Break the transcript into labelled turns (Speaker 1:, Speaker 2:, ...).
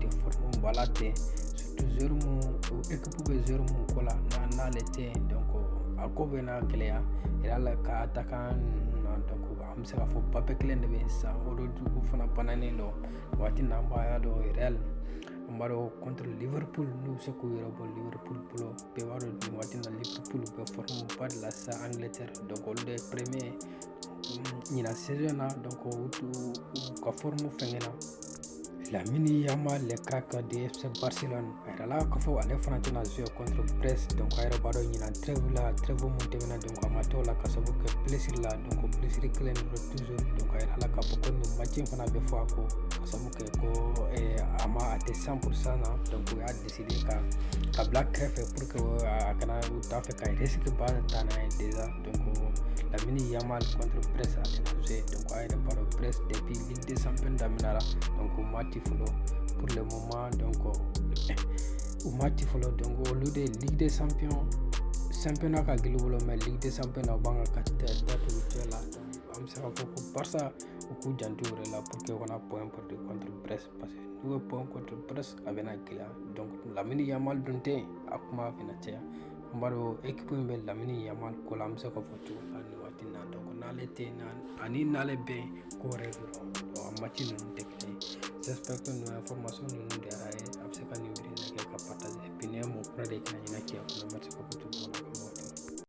Speaker 1: tɛ forme ba la ten surtout joueur mun ekipu bɛ joueur mun ko la n'ale tɛ yen donc a ko bɛ na gɛlɛya real ka attaquant na donc an bɛ se k'a fɔ mbappé kelen de bɛ yen sisan rodrygo fana bananen don waati in na an b'a dɔn real an b'a dɔn contre liverpool n'u bɛ se k'u yɛrɛ bɔ liverpool bolo bɛɛ b'a dɔn nin waati na liverpool bɛ forme ba de la sisan angleterre donc olu de ye premier ɲinan saison na donc u ka forme fɛngɛ na Lamine Yamal le crack du FC Barcelone a yirala k'a fɔ ale fana tɛna jouer contre Brest donc a yɛrɛ b'a dɔn ɲinan trêve la trêve mun tɛmɛna donc a ma t'o la ka sabu kɛ blessure la donc blessure kelen de don toujours donc a yirala k'a fɔ ko nin match in fana bɛ fɔ a kɔ ka sabu kɛ ko a ma a tɛ 100 pour cent na donc u y'a décider ka k'a bila kɛrɛfɛ pour que a kana u t'a fɛ ka risque ba ta n'a ye déjà Lamine Yamal contre Brest a tɛna jouer. Donc, a yɛrɛ b'a dɔn Brest depuis Ligue des Champions daminara. Donc, u ma ci fɔlɔ, pour le moment, donc, u ma ci fɔlɔ, donc, olu de Ligue des Champions, championnat ka gɛlɛn u bolo mais ligue des champions na b'an ka datugu cɛ la an bɛ se k'a fɔ ko barça u k'u janto u yɛrɛ la pour que u kana point perdre contre brest parce que n'u ye point contre brest a bɛna gɛlɛya donc lamine yamal dun tɛ yen a kuma bɛna caya An b'a dɔn ekipu in bɛ lamine yamal ko la an bɛ se k'a fɔ cogo min na nin waati in na donc n'ale tɛ yen ani n'ale bɛ yen ko wɛrɛ de don a match ninnu tɛ kelen ye j'espère que nin information ninnu diyara a ye a bɛ se ka nin vidéo liker k'a partager puis n'i ye mɔgɔ kura de ye kana ɲinɛ cɛ kɔnɔ merci beaucoup tout le monde